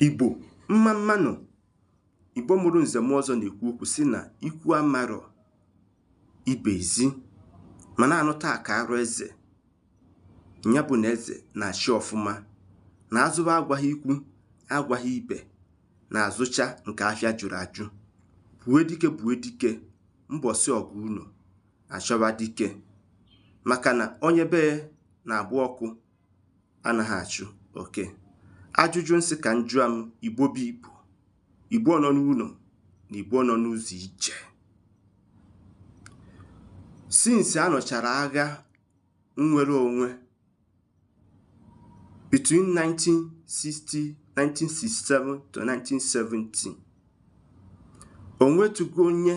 Igbo mma mmanụ Igbo mụrụ nze mụọ ọzọ na-ekwu okwu sị na ikwu amarọ ibe ezi ma na-anụ taa ka arụ eze ya bụ na eze na-achị ọfụma na a zụba agwaghị ikwu agwaghị ibe na-azụcha nke afịa jụrụ ajụ gbue dike gbue dike mbọsị ọgụ unu achọba dike maka na onye be ya na-agba ọkụ anaghị achụ oke ajụjụ n sị ka n jụa m Igbo bụ Igbo Igbo nọ n'ụnọ na Igbo nọ n'ụzọ ije since a nụchara agha nnwere onwe between 1960 1967 to 1970 o nwetugo onye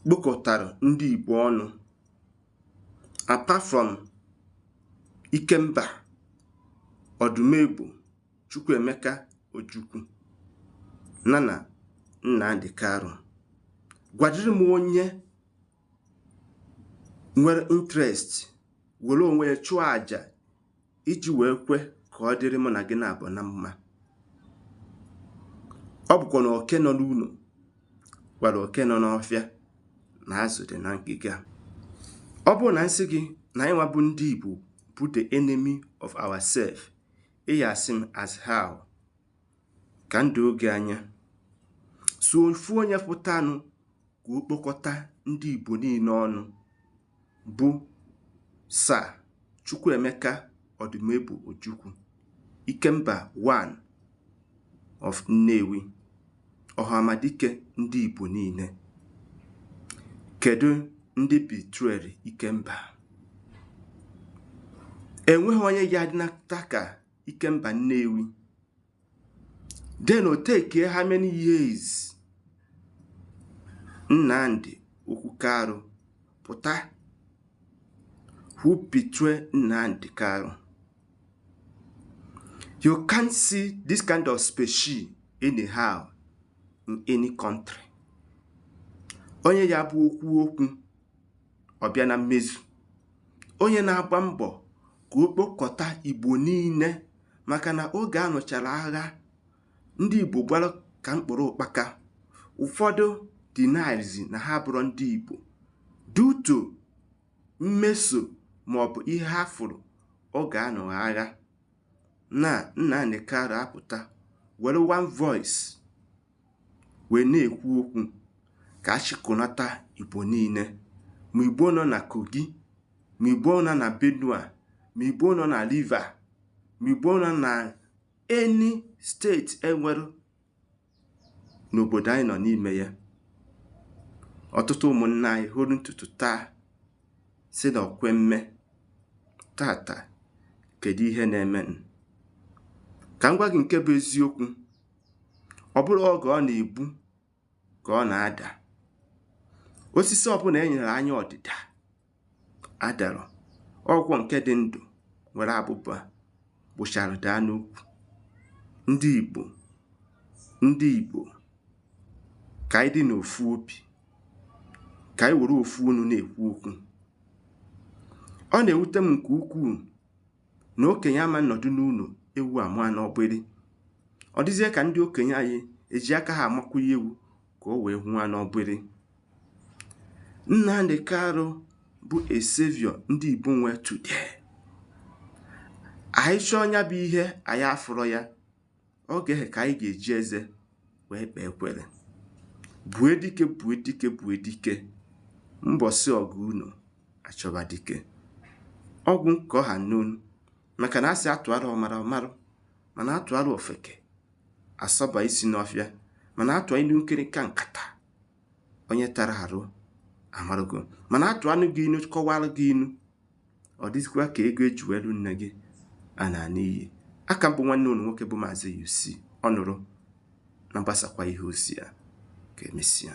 kpokọtara ndị Igbo ọnụ apart from Ikemba Odumegwu Chukwuemeka Ojukwu na na Nnamdi Kanu gwadịrị m onye nwere interest were onwe ya chụọ aja iji wee kwe ka ọ dịrị mụ na gị naabọ na mma ọ bụkwa na oke nọ n'ụnọ gwara oke nọ n'ọfịa na azụ dị na ngịga ọ bụrụ na n sị gị na anyị nwa bụ ndị Igbo bụ the enemy of ourselves ị ya-asị m as how ka n doo gị anya sọ ofu onye pụtanụ ka o kpokọta ndị Igbo niile ọnụ bụ Sir Chukwuemeka Odumegwu Ojukwu Ikemba one of Nnewi Ọhamadike ndị Igbo niile kedu ndị betrayrị Ikemba enweghị onye ga-adịnata ka Ikemba Nnewi then o take how many years Nnamdi Okwu Kanu pụta who betray Nnamdi Kanu you can't see this kind of species anyhow in any country onye ya bụ o kwuo okwu ọ bịa na mmezu onye na-agba mbọ ka o kpokọta Igbo niile maka na oge a nụchara agha ndị Igbo gbara ka mkpụrụ ụkpaka ụfọdụ denyzi na ha bụrọ ndị Igbo due to mmeso ma ọ bụ ihe ha fụrụ oge a nụrụ agha na Nnamdi Kanu apụta were one voice wee na-ekwu okwu ka a chịkọnata Igbo niile ma Igbo nọ na Kogi ma Igbo nọ na Benue ma Igbo nọ na River ma Igbo nọ na any steeti e nwere n'obodo anyị nọ n'ime ya ọtụtụ ụmụnna anyị fọrọ ntutu taa sị na ọkwe mme tata kedu ihe na-eme ka m gwa gị nke bụ eziokwu ọ bụrọ oge ọ na-ebu ka ọ na-ada osisi ọbụla e nere anya ọdịda adarọ ọ bụkwa nke dị ndụ nwere abụba gbụchara daa n'ukwu ndị Igbo ndị Igbo ka anyị dị n'ofu obi ka anyị were ofu onu na-ekwu okwu ọ na-ewute m nke ukwuu na okenye ama nọdụ n'ụlọ ewu amụa n'ọgbịrị ọ dịzie ka ndị okenye anyị eji aka ha amakwụnye ewu ka o wee mụwa n'ọgbịrị Nnamdi Kanu bụ a savior ndị Igbo nwe today anyị chọọ nya bụ ihe anyị afụrọ ya oge ahụ ka anyị ga-eji eze wee kpee ekwere gbue dike gbue dike gbue dike mbọsị ọgụ unu achọba dike ọ gwụ nke ọ ha n'ọnụ maka na a sị a tụara ọmara ọ marụ mana a tụara ofeke asọba isi n'ọfịa mana a tụa inu nkirika nkata onye tara arụ amarugo mana a tụanụ gị inu kọwara gị inu Ọ dịzikwa ka ego e ji wee lụ nne gị anaa n'iyi. A ka m bụ nwanne unu nwoke bụ Maazị UC ọ nụrụ nya gbasakwa ihe ozi a ka emesịa.